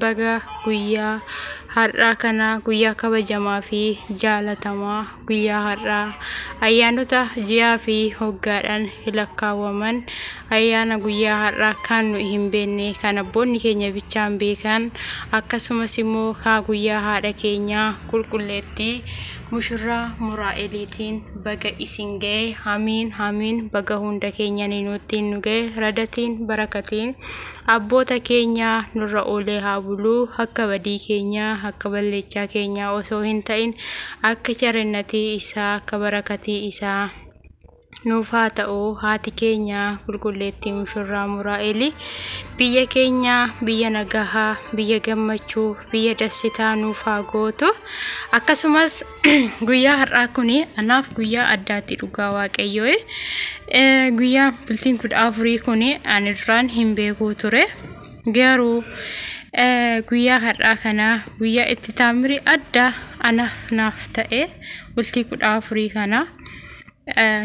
Baga guyyaa har'aa kana guyyaa kabajamaa fi jaalatamaa guyyaa har'aa ayyaanota ji'aa fi hoggaadhaan lakkaawwaman ayyaana guyyaa har'aa kan nu hin beekne kan abboonni keenya bichaan beekan akkasumas immoo kaa guyyaa haadha keenyaa qulqulleettii mushurraa muraa'eliitiin baga isin ga'e hamiin hamiin baga hunda keenyanii nuuttiin nu ga'e radatiin barakatiin Abboota keenya nurra oolee haa bulu, akka badii keenya, akka balleechaa keenya osoo hin ta'in, akka charinnatii isaa, akka barakatii isaa nuuf haa ta'u. Haati keenya qulqulleettii mushurraa Muraa'eli biyya keenya biyya nagahaa, biyya gammachuu, biyya dassitaa nuuf haa gootu. Akkasumas Guyyaa har'aa kun anaaf guyyaa addaatti dhugaa waaqayyoo. Guyyaa bultiin kudha afurii kun ani duraan hin beekuu ture. Garuu guyyaa har'aa kana guyyaa itti taamiri addaa anaaf naaf ta'e bultii kudha afurii kana.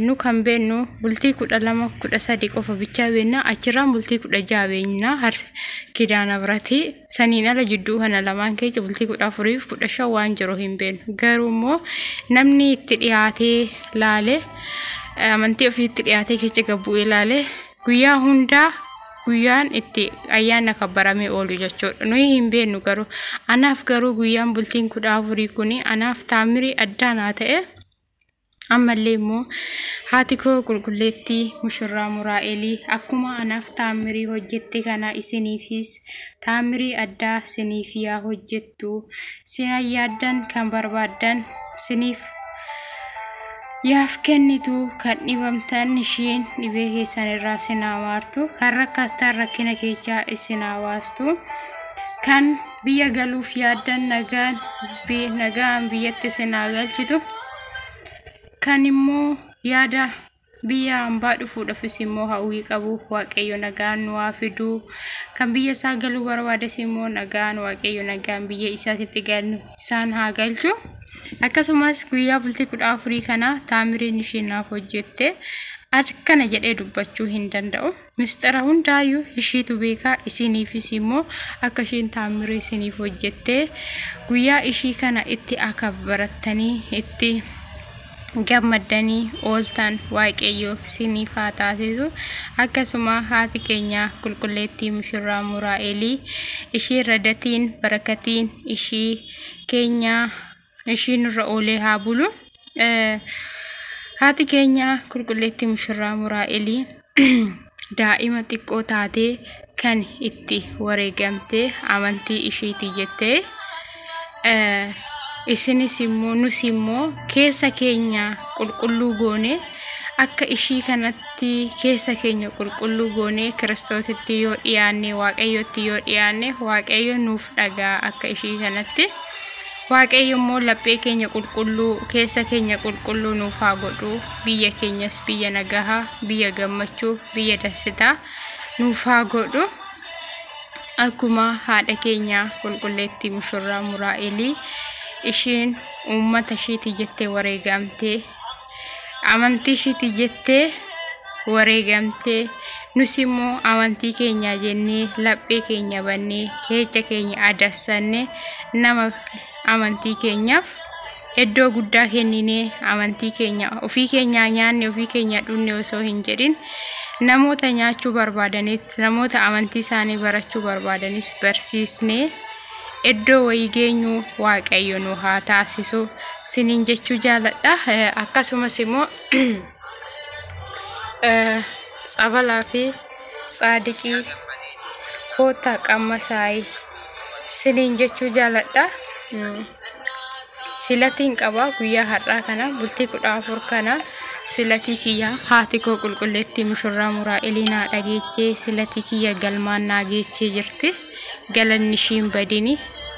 nu kan beennu bultii kudha lama kudha sadi qofa bichaa beenna achirraan bultii kudha jaha beenna har kidaana birati saniin ala jidduu kana lamaan keessa bultii kudha afuriif kudha shan waan jiru hin beennu garuu immoo namni itti dhiyaatee laale amantii ofii itti dhiyaatee keessa gabbuu ilaale guyyaa hundaa guyyaan itti ayyaana kabbaramee oolu jechuudha nuyi hin beennu garuu anaaf garuu guyyaan bultiin kudha afurii kun anaaf taamirii addaa naa ta'e. Ammallee immoo haati koo qulqulleettii mushurraa Muraa'elii akkuma anaaf taammirii hojjette kana isiniifis taammirii addaa siniif yaa hojjettu sina yaaddan kan barbaaddan siniif yaaf kennitu kan dhibamtan ishiin dhibee keessan irraa sinaa maartu kan rakkattan rakkina keechaa isinaa baastu kan biyya galuuf yaaddan nagaan bi- nagaan biyyatti isin haa galchitu kan immoo yaada biyya hambaa dhufuudhafis immoo hawwii qabu waaqayyo nagaan nu haa fidu kan biyya isaa galuu barbaades immoo nagaan waaqayyo nagaan biyya isaatitti galu isaan haa galchu akkasumas guyyaa bultii kudha afurii kana taamiriin isheen naaf hojjette akkana jedhee dubbachuu hin danda'u. Misxira hundaayyuu ishiitu beeka isiniifis immoo akka isheen taammira isiniif hojjettee guyyaa ishii kana itti akka barattanii itti gammaddanii ooltan waaqayyo isiniif haa taasisu akkasuma haati keenya qulqulleettii mushurraa muraa'elii ishii radatiin barakatiin ishii keenyaa ishiin irra oolee haa bulu. Haati keenya qulqulleetti mushurraa muraa'elii daa'ima xiqqoo taatee kan itti wareegamtee amantii ishiitii jettee isinis immoo nus immoo keessa keenya qulqulluu goone akka ishii kanatti keessa keenya qulqulluu goone kiristoositti yoo dhiyaanne waaqayyotti yoo dhiyaanne waaqayyo nuuf dhagaa akka ishii kanatti. Waaqayyo immoo laphee keenya qulqulluu, keessa keenya qulqulluu nuuf haa godhu. Biyya keenyas biyya nagaha, biyya gammachuu, biyya dansitaa nuuf haa godhu. Akkuma haadha keenya qulqulleettii mushurraa Muraa'elii isheen uummata isheetii jettee wareegamtee amantii ishiiti jettee wareegamtee nus immoo amantii keenya jennee laphee keenya bannee keecha keenya adassanne nama amantii keenyaaf iddoo guddaa kenninee amantii keenya ofii keenyaa nyaanne ofii keenya dhunne osoo hin jedhin namoota nyaachuu barbaadanitti namoota amantii isaanii barachuu barbaadanis barsiisnee Eddoo wayii geenyuu waaqayyo nu haa taasisu sinin jechuu jaaladha akkasumas immoo tsabalaa fi tsaadiqii koottaa qamma saayi sinin jechuu jaaladha silatiin qaba guyyaa har'aa kana bultii kudha afur kana silatii kiyya haati koo qulqulleettii mushurraa muraa eliinaa dhageechee silatii kiyya galmaan naa geechee jirti. galanni ishiin badini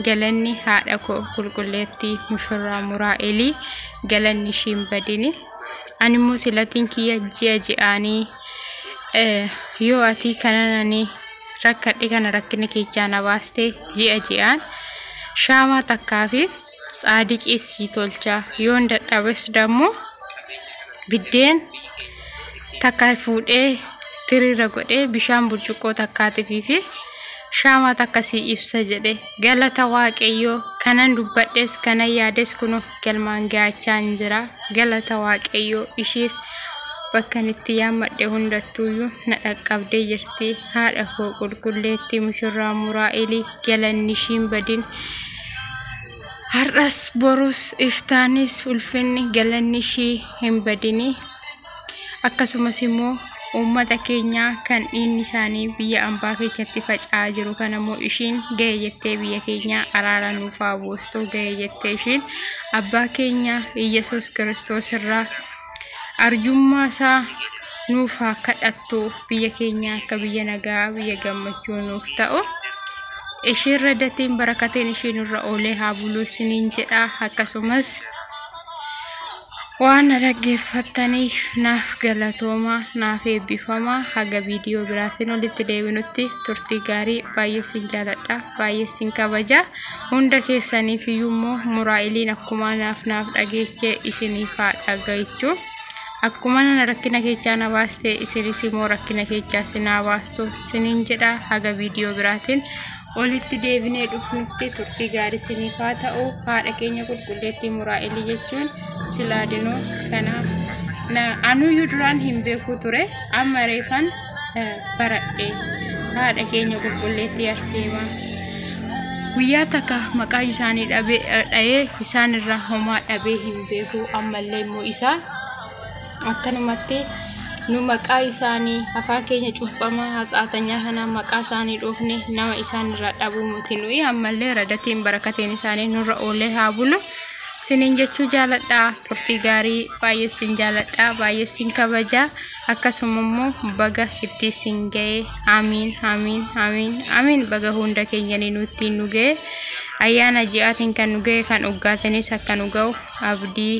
galanni haadha koo qulqulleettii mushurraa muraa elii galanni ishiin badini animmoo silatiin kiyya ji'a ji'aanii eh, yoo atii kanananii rakkadhe kana rakkina keechaa na baaste ji'a ji'aan shaamaa takkaa fi tsaadiqii sii tolcha yoon dadhabes dammo biddeen takka fuudhee tiriirra godhee bishaan burcuqqoo takkaatiifii fi shaamaa takka sii ibsa jedhe galata waaqayyoo kanan dubbadhes kanan yaades kun of galmaan gaachaan jira galata waaqayyoo ishiif bakkan itti yaammadhe hundattuuyyuu na dhaqqabdee jirti haadha koo qulqulleettii mushurraa muraa'elii galanni ishiin badin Har'as borus iftaanis ulfinni galanni ishii hin badini. Akkasumas immoo uummata keenyaa kan dhiinni isaanii biyya ambaa keessatti faca'aa jiru kana immoo ishiin ga'e jettee biyya keenyaa araara nuuf haa buustu ga'e jettee ishiin abbaa keenya Iyyasuus Kiristoos irraa arjummaa isaa nuuf haa kadhattu biyya keenya akka biyya nagaa biyya gammachuu nuuf ta'u ishiirra datiin barakateen ishii nurra oolee haa buluu isiniin jedha akkasumas waan na dhaggeeffattaniif naaf galatooma naaf eebbifama haga viidiyoo biraatiin walitti deebinutti turtii gaarii baay'ee isin jaaladha baay'ee isin kabaja. Hunda keessaniif iyyuu immoo muraa'iliin akkuma naaf naaf dhageeche isiniif haa dhagaechu. Akkuma nana rakkina keechaa na baaste isinis immoo rakkina keechaa sin haa baastu sinin jedha haga viidiyoo biraatiin olitti deebinee dhufnutti turtii gaarii siniif haa ta'u haadha keenya qulqulleettii muraa'ilii jechuun silaadinoo kanaa na anuyyuu duraan hin beeku ture amma reefan eh, baradhe haadha keenya qulqulleetti arseema guyyaa takka maqaa isaanii dhabe- eh, dha'ee isaan irraa homaa dhabee hin beeku ammallee immoo isaa Akkanumatti, nu maqaa isaanii, afaan keenya cuuphamaa hatsaatanyaa kanaan maqaa isaanii dhoofne nama isaan irraa dhabuu miti nuyi ammallee radatiin barakateen isaanii nurra oolee haa bulu. Sinin jechuu jaaladha turtii gaarii baay'ee sin jaaladha baay'ee sin kabaja akkasuma immoo baga itti sin ga'e amiin amiin amiin amiin baga hunda keenyanii nutti nu ga'e ayyaana ji'aatiin kan nu ga'e kan oggaatanis akka nu ga'u abdii